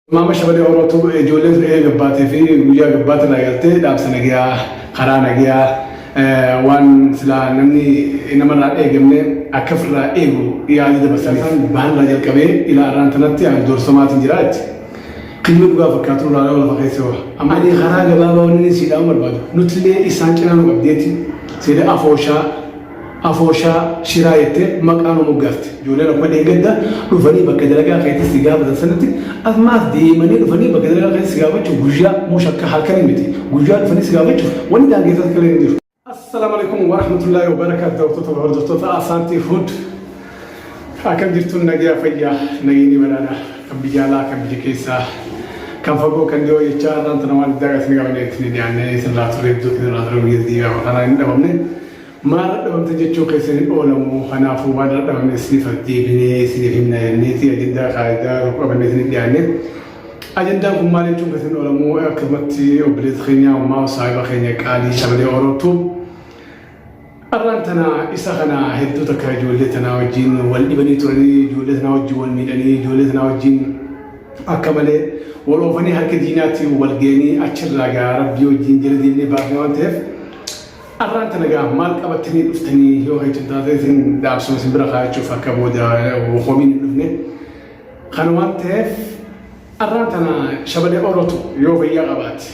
Maama Shabalee Oromootu ijoolleen sun eega gabbaatee fi guyyaa gabbaatti irraa eegaltee dhaamsa nagiyaa karaa nagiyaa waan silaa namni namarraa hin eegamne akka ofirraa eegu yaada dabarsanii kan baanirraa jalqabee ilaa arraan tanatti ani doorsamaatiin jira jetti. Kilmi dhugaa fakkaatu irraa yoo lafa keessa hoo. Amma ani karaa gabaabaa wanni siidhaan barbaadu nutillee isaan cinaa nu qabdeetti seeda afooshaa Afooshaa, shiraa jettee maqaa nu moggaafte. Ijoolleen akkuma dheengadda dhufanii bakka dalagaa keetti si gaafatan sanatti ammaas deemanii dhufanii bakka dalagaa keetti si gaafachuuf guyyaa moo shakka halkanii miti. Guyyaa dhufanii si gaafachuuf wanni daangeessa akka hin jiru. Assalaamu alaikum wa rahmatullahi wa barakaatu daawwattoota wal hordoftoota Asaantii Food. Akkam jirtuun nagaa fayyaa nageenyi badhaadha kan biyya alaa kan biyya keessaa kan fagoo kan dhiyoo jechaa irraan tana waan addaa gatiin qabannee ittiin dhiyaannee isin laa turee iddoo isin laa turee biyya dhiigaa kanaa hin dhabamne. Maal dhadhabamte jechuu keessan hin oolamu kanaafuu waan dhadhabame isiniif deebinee isiniif himna jenneeti ajandaa kaayidaa tokko qabannee isiniif dhiyaanne. Ajandaan kun maal jechuun keessan hin oolamu akkasumatti obboleessa keenya ammaa saahiba keenya qaalii shabalee orootu arraan tana isa kana hedduu takka ijoollee tanaa wajjin wal dhibanii turanii ijoollee tanaa wajjin wal miidhanii ijoollee tanaa wajjin akka malee wal oofanii harka diinaatti wal geenii achirraa gaa rabbii wajjin jala deemnee baafne waan ta'eef Arraan tana egaa maal qabattanii dhuftanii yoo heechuun taatee isin dhaabsuma isin bira kaayachuuf akka booda homiin hin dhufne. Kana waan ta'eef arraan tana shabalee orootu yoo fayyaa qabaate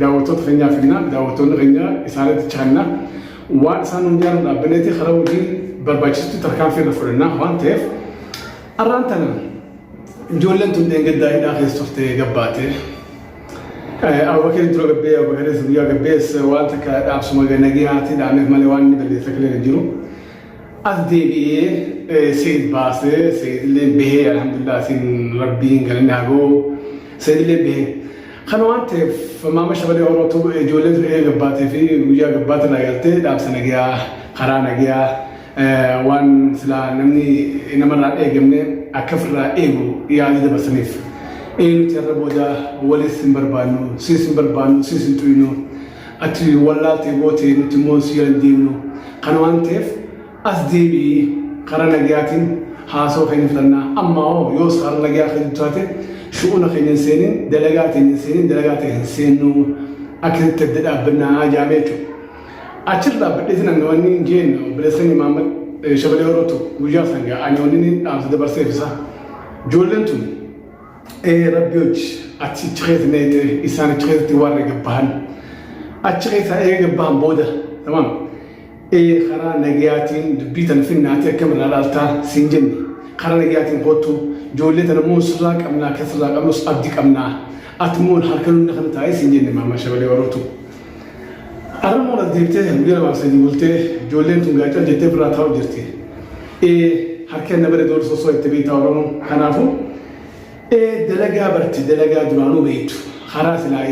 daawwattoota keenyaa finnaa daawwattoonni keenyaa isaanitti chaanna waan isaan nu jaalan dhaabbineeti karaa hojii barbaachistu tarkaanfii irra fudhannaa waan ta'eef arraan tana ijoolleen tun dheengaddaa hidhaa keessa turtee gabbaatee Abubakar dura gabbee Abubakaris guyyaa gabbees waan takka dhaabsuma ganagee haatii dhaameef malee waan inni balleessa kilee hin jiru. As deebi'ee seed baasee seedillee bahee alhamdulillah siin rabbiin galanni haa ga'u seedillee bahee. Kana waan ta'eef maama shabalee Oromootu ijoollee turee gabbaatee fi guyyaa gabbaate irraa galtee dhaabsa nagayaa karaa nagayaa waan silaa namni namarraa hin eegamne akka ofirraa eegu yaada dabarsaniif. Eenyuti irra booda walis hin barbaannu, siis hin barbaannu, siis hin tuynu. Ati wallaaltee bootee nuti immoo si hin deemnu. Kana waan ta'eef as deebi'ii karaa nagayaatiin haasoo keenya fudhannaa. Amma hoo yoos karaa nagayaa kan taate shu'uuna keenya hin seenin, dalagaa keenya hin seenin, dalagaa ta'e hin seennu. Akkasitti adda dhaabbannaa jaamee jechuudha. Achirra dhaabbadhee sinan gawanni hin jeen obboleessan Imaamad Shabalee Orootu guyyaa san gaa ani wanni inni dhaamsa dabarseef isaa. Ijoolleen tun ee rabbi hojji achi achi keessa mee ta'e isaan achi keessatti warra gabbahan. Achi keessaa eega gabbahan booda tamam ee karaa nagayaatiin dubbii tan finnaatee akkam irraa laaltaa siin jenne karaa nagayaatiin kottu ijoollee tana immoo sirraa qabnaa kan sirraa qabnus abdi qabnaa ati immoo harka nunna kan taa'ee siin jenne Imaamad Shabalee Orootu. Armoo as deebitee guyyaa lamaa sadii bultee ijoolleen tun gaachan jettee biraa taa'u jirti. Ee harki anna bare dool sosoo itti beektaa Oromoo kanaafuu ee dalagaa barti dalagaa duraanuu beektu karaa silaa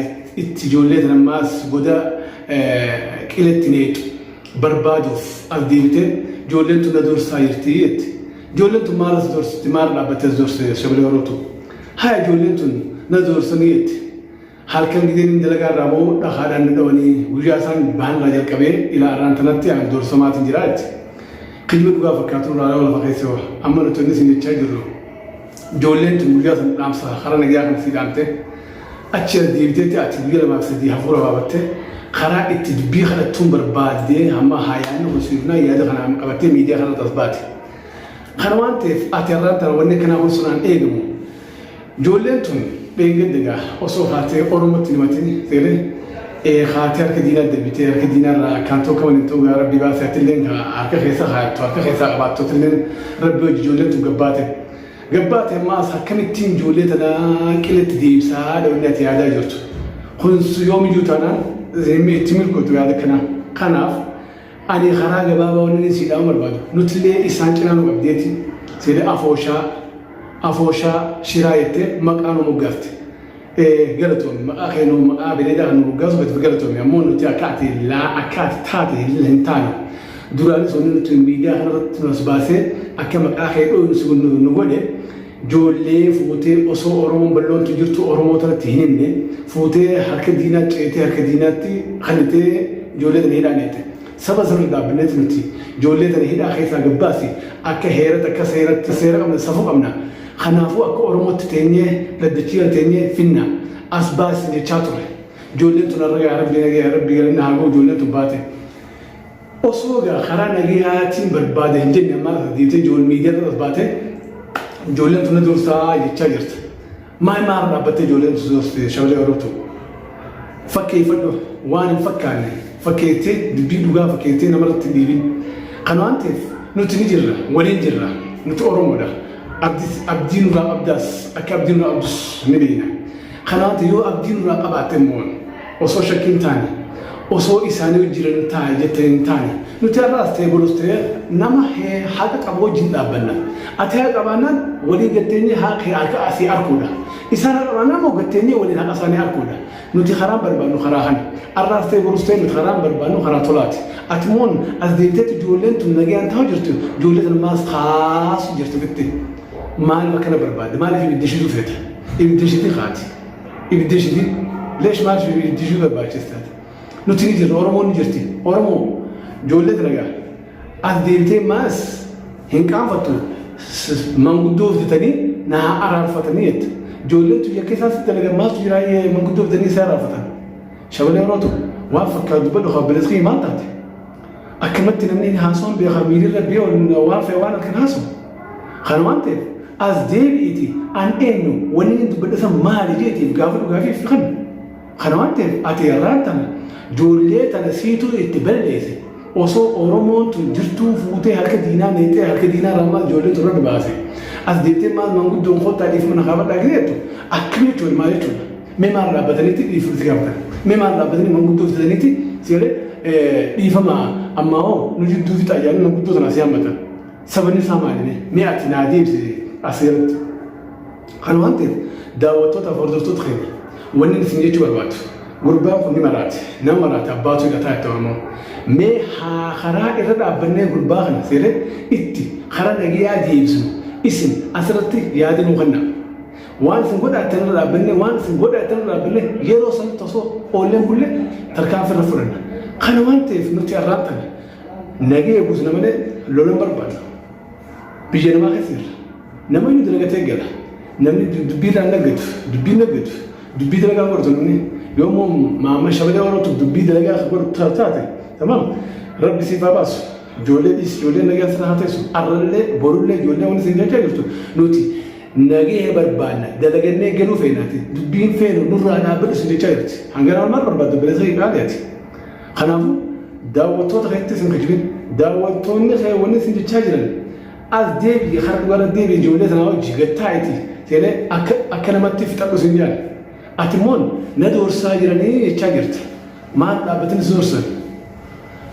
itti ijoollee tan ammaas goda qiletti neetu barbaaduuf as deebitee ijoolleen tun na doorsaa jirti jetti. Ijoolleen tun maal as doorsitti maal dhaabbattee as doorsitti shabalee Oromootu. Haa ijoolleen tun na doorsanii jetti. Halkan gidin dalagaa irraa ba'uu dhakaadhaan dadhabanii guyyaa isaan bahan irraa jalqabee ilaa arraan tanatti ani doorsamaatiin jira jette. Kijba dhugaa fakkaatu irraa yoo lafa keessa baha. Amma nuti inni isin jechaa jirru. Ijoolleen tun guyyaa san dhaamsa karaa nagayaa kan sii dhaamte. Achi as deebiteetti ati guyyaa lamaa fi sadii hafuura baafatte. Karaa itti dubbii kadhattuun barbaadde hamma haayaanni kun siifnaa yaada kanaan qabattee miidiyaa kanarratti as baate. Kana waan ta'eef ati har'aan tana wanni kanaa kun sunaan eegamu. Ijoolleen tun dheengadda egaa osoo haatee Oromootti hin himatin seene ee haatee harka diinaa deebitee harka diinaa irraa akkaan tokko waliin ta'uu gaa rabbi baasee atilleen haa- harka keessa haattu harka keessaa qabaattu atilleen rabbi hojii ijoolleen tun gabbaate. Gabbaate ammaas akkamittiin ijoollee tanaa qilletti deebisaa dhawinni ati yaadaa jirtu. Kun yoomiyyuu taanaan itti milkootu yaada kanaa. Kanaaf Ani karaa gabaabaa wannin isii dhaamuu barbaadu nutillee isaan cinaa nu qabdeeti seeda afooshaa afooshaa shiraa jettee maqaa nu moggaafte galatoomi maqaa kee nu maqaa beelladaa kan nu moggaasu gatiif galatoomi ammoo nuti akka ati laa akka ati taate hin taane duraanis wanni nuti miidiyaa kanarratti nu as baasee akka maqaa kee dhooynu si nu godhe Joollee fuutee osoo Oromoon balloontu jirtu Oromoo tanatti hin himne fuutee harka diinaa ceetee harka diinaatti kanitee joollee tana hidhaa neete. Saba sirri dhaabbineeti nuti joollee tana hidhaa keessaa gabbaasi akka heeratti akka seeratti seera qabna safuu qabna. Kanaafuu akka Oromootti teenyee dhaddachi irra teenyee finna as baasi jechaa turre. Joolleen tun har'a yaa rabbi nagaa yaa rabbi galanna haa ga'u joolleen tun baate. Osoo egaa karaa nagayaatiin barbaada hin jenne maaf deemtee ijoollee miidiyaa irra as baatee ijoolleen tuna dursaa jechaa jirta. Maal maal dhaabbattee ijoolleen tuna dursite shamarree Oromoo fakkeeffadhu waan hin fakkaanne fakkeettee dubbii dhugaa fakkeettee namarratti hin dhiibin. Kan waan ta'eef nuti ni jirra waliin jirra nuti Oromoodha. Abdis abdii nurraa qabdaas akka abdii nurraa qabdus ni beekna. Kan waan ta'eef yoo abdii nurraa qabaatte immoo Osoo shakkii hin taane, osoo isaanii wajjin hin taa'e jettee hin taane, nuti har'aas ta'e borus ta'e nama hee haqa qabu wajjin dhaabbanna. Ati haqa qabaannaan waliin gatteenyee haqa kee harka asii arkuudha. Isaan haqa qabaannaan immoo gatteenyee waliin haqa isaanii arkuudha. Nuti karaan barbaadnu karaa kana. Har'aas ta'e borus ta'e nuti karaan barbaadnu karaa tolaati. Ati moon as deemteetti ijoolleen tun nagayaan ta'aa jirtu ijoollee tana maas kaasu jirtu bitti. Maaliif akkana barbaadde? Maaliif ibidda ishiitu feete? Ibidda ishiitii kaati. ibidda ishiti leesh maal ishee ibiddi ishuu barbaachistaati nuti ni jirra oromoon ni jirti oromoo ijoollee dalagaa as deebitee maas hin qaanfattu manguddoo hojjetanii na haa araarfatanii jette ijoolleen tuyya keessaa si dalaga maaltu jiraa manguddoo hojjetanii si araarfatan shabalee orootu waan fakkaatu badhu haa bilisqii maal taate Akkamatti namni haasawaan beekaa miirirra biyya ol waan fe'e waan halkan haasawu. Kana waan ta'eef as deebi'iti an eenyu wanni inni dubbadhe san maali jeetiif gaafa dhugaafii fi kan. Kana waan ta'eef ati irraan tana joollee tana siituu itti balleesse osoo Oromoon tun jirtuu fuutee harka diinaa meexxee harka diinaa raamaa ijoollee turre baase. As deebitee maal manguddoon koottaa dhiifama na kaafadhaa gideettu akkam jechuudha maal jechuudha. Mee maal dhaabbatanitti dhiifama itti gaafatan? Mee maal dhaabbatanii manguddoo fitatanitti si galee dhiifama ammaa hoo nu jidduu fixaa jedhanii manguddoo sana si hammatan? Sababni isaa maali? Mee ati naa deebisi as irratti. Kana waan ta'eef daawwattoota fi hordoftoota keenya wanni isin jechuu barbaadu gurbaan kun ni maraate nama maraate abbaatu hidhataa itti oromoo mee haa karaa irra dhaabbannee gurbaa kana seeree itti karaa nagayaa deebisnu isin asirratti yaada nuu kennaa. Waan isin godhaattan irra dhaabbanne waan isin godhaattan irra dhaabbanne yeroo sanitti osoo oolleen bulle tarkaanfii irra fudhanna. Kana waan ta'eef nuti arraan tana nagee eegusna malee lolan barbaada. Biyya namaa keessa jirra. Nama inni dalagatee gala. Namni dubbii irraa naggatu, dubbii naggatu, dubbii dalagaa godhatu namni yoommoo maamma shabalee warra dubbii dalagaa godhatu taate. Tamam. Rabbi siif haa baasu. Ijoollee dhiisi ijoollee nagaan sana haa teessu arrallee borullee ijoollee wanti isin jechaa jirtu nuti nagahee barbaanna dalagannee galuu feenaati dubbiin feenu nurraa dhaabbadhu isin jechaa jirti hanganaa maal barbaadda bineesa hin dhaali ati kanaafuu daawwattoota keessatti isin kijibin daawwattoonni kee wanni isin jechaa jiran as deebi'e karaa dhugaarra deebi'e ijoollee sanaa hojii gattaa'eeti seenee akka akka namatti fixadhu isin jaala ati immoo na doorsaa jiranii jechaa jirta. Maal dhaabbatanii si horsan?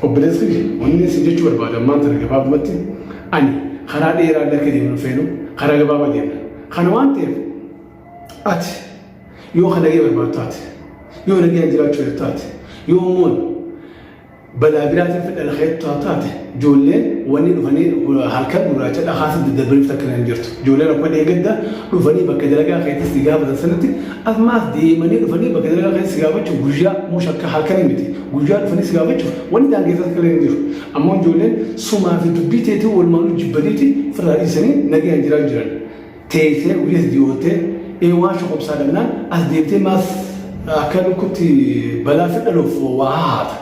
Obboleessi kiyya wanni isin jechuu barbaadu ammaan tana gabaabumatti ani karaa dheeraa illee akka deemnu feenu karaa gabaabaa deemna. Kana waan ta'eef ati yoo kan nagee barbaadu taate yoo nageen jiraachuu irra taate yoo immoo balaa biraatiin fedha lafa hedduu taate ijoolleen wanni dhufanii halkan gurraacha dhakaasii daddarbaniif takka hin jirtu. Ijoolleen akkuma dheegadda dhufanii bakka dalagaa keessatti gaafatan sanatti Ammaas deemanii dhufanii bakka dalagaa keessa si gaafachuuf guyyaa moo shakka halkanii miti. Guyyaa dhufanii si gaafachuuf wanni daangeessaa akka hin jiru. Ammoo ijoolleen sumaa fi dubbii teetii walumaanuu jibbaniiti firraa dhiisanii nagayaan jiraa jiran. Teessee guyyaa si diyootee ee waan shokobsaa dhabnaan as deemtee maas akka lukkutti balaa si dhaluuf waa haata.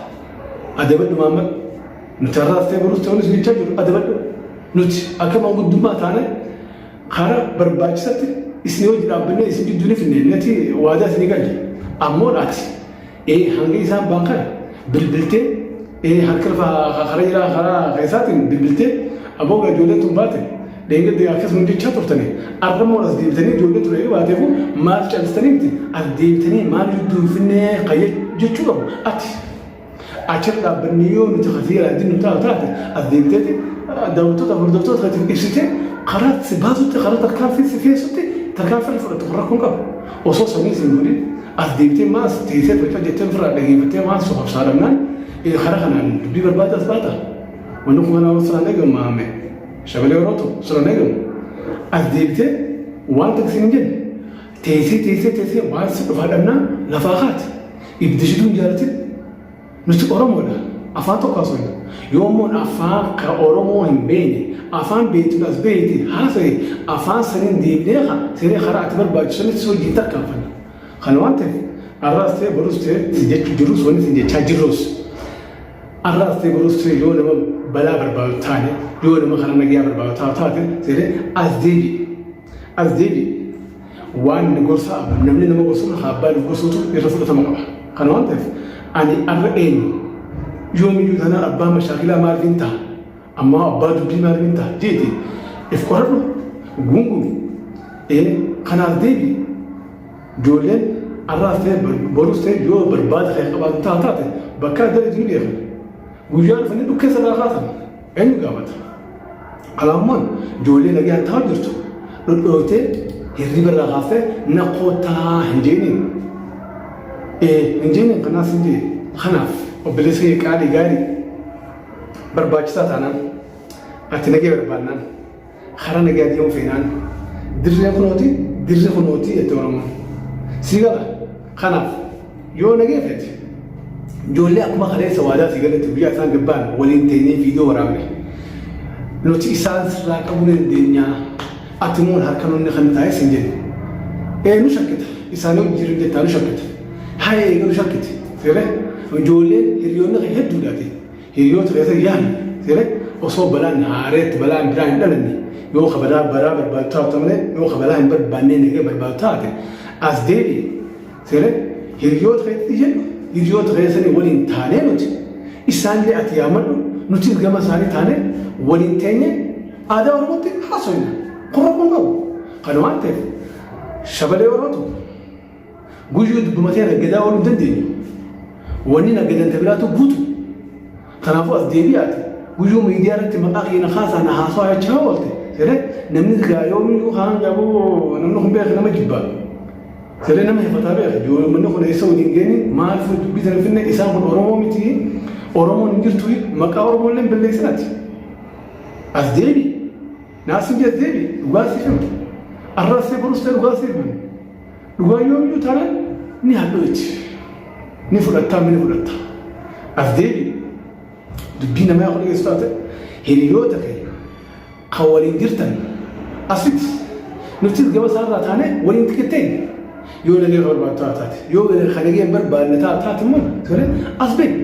Adabadhu maamma nuti har'aas ta'e boruus ta'uunis jechaa jiru adabadhu. Nuti akka manguddummaa taanee Kara barbaachisatti isin hojii dhaabbannee isin jidduu ni finne nati waadaa isin galle ammoo dhaati. Ee hanga isaan baan kana bilbiltee ee harka lafa kara jiraa karaa keessaatiin bilbiltee aboo gaa ijoolleen tun baate dheengadde akkasuma jechaa turtanii arra immoo as deebitanii ijoollee ture yoo baateef maal calistanii miti as deebitanii maal jidduu hin finne jechuun qabu ati. Achirra dhaabbanni yoo nuti kan seeraa ittiin nu taa'u taate as deemteeti daawwattoota hordoftoota isaatiif ibsitee karaa si baasutti karaa tarkaanfii si keessutti tarkaanfii irra fudhatu kun rakkoon qabu. Osoo sanii sin godhin as deemtee maas teessee tolcha jettee ofirraa dhageeffattee maas sobsaa dhabnaan karaa kanaan dubbii barbaada as baata. Wanni kun kanaa osoo hin eegamu maame shabalee yeroo ta'u osoo hin eegamu as deemtee waan taksiin hin jenne Teessee teessee teessee waan si dhufaa dhabnaan lafaa kaati. Ibdi shituu hin jaalatin. Nuti Oromoodha. Afaan tokko haasofna. Yoo immoo afaan ka Oromoo hin beekne afaan beektuun as beekte haasa'e afaan saniin deebinee ka siree karaa ati barbaachisu sanitti hojiin tarkaanfanna. Kana waan ta'eef arraas ta'e borus ta'e si jechuu jirrus wanni si jechaa jirrus arraas ta'e borus ta'e yoo nama balaa barbaadu taane yoo nama karaa nagayaa barbaadu taate siree as deebi'e. As deebi'e. Waan inni gorsa abbaan namni nama gorsurra haa abbaan of gorsuutu irra fudhatama qaba. Kana waan ta'eef ani arra eenyu yoomiyyuu tanaan abbaa mashaakilaa maaliif hin ta'a? Ammaa abbaa dubbii maaliif hin ta'a? Jeeti if qoradhu guungumi. Ee kanaaf deebi ijoolleen arraas ta'e borus ta'e yoo barbaada kan qabaatu taate bakka adda adda jiru beekan. Guyyaan uffanni dhukkeessa irraa kaatan. Eenyu gaafata? Alaammoon ijoollee nagaan taa'u jirtu dhodhootee hirriba irraa kaastee na koottaa hin jeeniin. Ee hin jeeniin kanaaf hin jee kanaaf obboleessa kee qaalii gaarii barbaachisaa taanaan ati nagee barbaannaan Karaa nagaa deemuu feenaan dirreen kunooti dirri kunooti jetti Oromoon. Si gala. Kanaaf yoo nagee feete ijoollee akkuma kaleessa waadaa si galatti guyyaa isaan gabbaan waliin teenyee viidiyoo waraabne. Nuti isaan sirraa qabuu ni dandeenya. Ati immoo harka nuunni kan taa'es hin jennu. Ee nu shakkita. Isaan yoo jiru jettaa nu shakkita. Haa eegalu shakkiti. Seeree ijoolleen hiriyoonni kan hedduudhaati. Hiriyoota keessan yaali. Siree osoo balaan haareetti balaan biraa hin dhalanne yoo ka badaa baraa barbaadu taatu malee yoo ka balaa hin barbaannee nagee barbaadu taate as deebi'i. Siree hiriyoota keessatti jedhu hiriyoota keessanii waliin taanee nuti isaanillee ati yaamadhu nutis gama isaanii taanee waliin teenye aadaa Oromootti haasofna. Kun rakkoon qabu. Kana waan ta'eef shabalee Oromoo tokko Guyyuu dubbuma kee naggadaa ooluu hin dandeenyu. Wanni naggadan ta biraatu guutu. Kanaafuu as deebi'aati. Guyyuu miidiyaa irratti maqaa keenya kaasaa na haasawaa jechaa oolte. Siree namni silaa yoomiyyuu kaan qabuu namni kun beeku nama jibbaa. Siree nama hifataa beeku. Yoo manni kun eessa waliin geenye maal fuudhu dubbii sana finne isaan kun Oromoo miti. Oromoon hin jirtu maqaa Oromoo illee hin balleessinati. As deebi. Naasuu jee deebi. Dhugaa siif himte. Arraas ta'e borus ta'e dhugaa siif himte. Dhugaa yoomiyyuu taanaan ni hadhooti. Ni fudhattaa ni fudhatta. As deebi dubbii namaa akka dhageessu taate hiriyoota kee kan waliin jirtan asitti nuti gaba isaarraa taane waliin xiqqettee yoo nagee barbaaddu haa taate yoo kan nagee hin barbaadne taa taate immoo tole as beeku.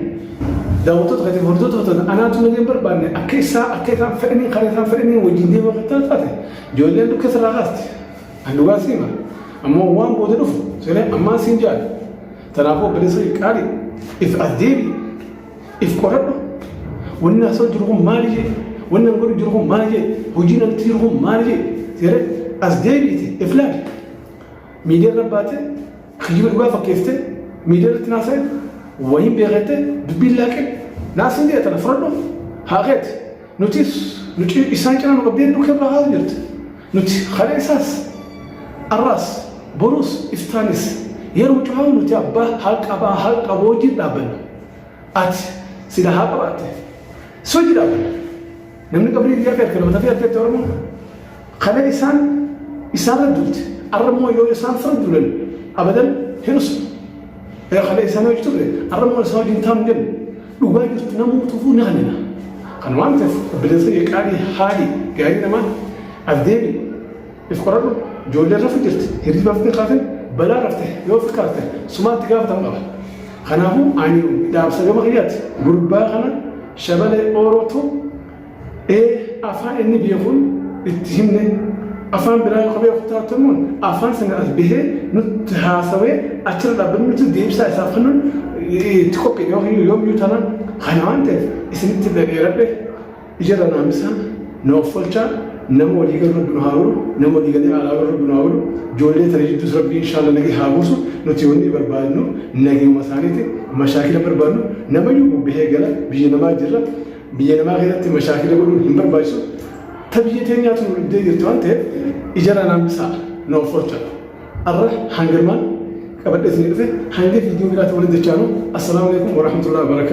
Daawwattoota katiif hordoftoota katoota anaatu nagee hin barbaadne akka isaa akka isaan fedhanii karaa isaan fedhanii wajjin deemaa kan taate ijoolleen dukkeessa irraa kaasti. Ani dhugaa si hima. Ammoo waan booda dhufu siree ammaan siin jaadha. Tanaafuu obboleessa kee qaalii if as deebi. If qoradhu. Wanni haasoo jiru kun maali jee? Wanni an godhu jiru kun maali jee? Hojiin an itti jiru kun maali jee? Siree as deebi'iti if laali. Miidiyaa irra baatee kijiba dhugaa fakkeessitee miidiyaa irratti naasee wayiin beekattee dubbiin laaqee naasiin jee tana fudhadhu haa keeti. Nutis nuti isaan cinaa nu qabdee nu kebra haa jirti. Nuti kaleessaas, arraas, boruus, iftaanis yeroo cufaa nuti abbaa haqa baa haqa wajjin dhaabbanna. Ati sila haa qabaatte. Si wajjin dhaabbanna. Namni qabrii biyyaa beekte nama tafee arteetti Oromoon kalee isaan isaarra duute arra immoo yoo isaan fira duulan abadan hin usu. Kalee isaan hojii turre arra immoo isaan wajjin taa'u hin jennu. Dhugaa jirtu namuu tufuu ni hanina. Kan waan ta'eef obboleessa kee qaalii haali gaarii namaa as deebi if qoradhu ijoollee rafu jirti hirriba fitee kaate balaa rafte yoo fikkaatte sumaatti gaafatamu qaba. Kanaafuu ani dhaamsa gama kiyyaatti gurbaa kana shabalee oorootu Ee afaan inni beekuun itti himne afaan biraa yoo beeku taatuun afaan sana as bahee nutti haasawee achirra dhaabbanni nuti deebisaa isaaf kennuun itti qophiidha yookiin yoomyuu taanaan kana waan ta'eef isinitti dhaga'eeradhe ijarra naamisaa na offolchaa nama walii galu rabbi nu haa godhu nama walii galee alaa galu rabbi nu haa godhu ijoollee tana jidduus rabbi inshaallah nagee haa buusu nuti wanni barbaadnu nageema isaaniiti mashaakila barbaadnu namayyuu bubbihee gala biyya namaa jirra Biyya namaa keessatti mashaakila godhuun hin barbaachisu. Ta biyya teenyaatu nu dhibdee jirti waan ta'eef ijarraa naan bisaa na offolcha. Arra hangarmaan qabadhee isin dhufe hanga viidiyoo biraatti waliin jechaanu assalaamu alaikum warahmatullahi wabarakaatu.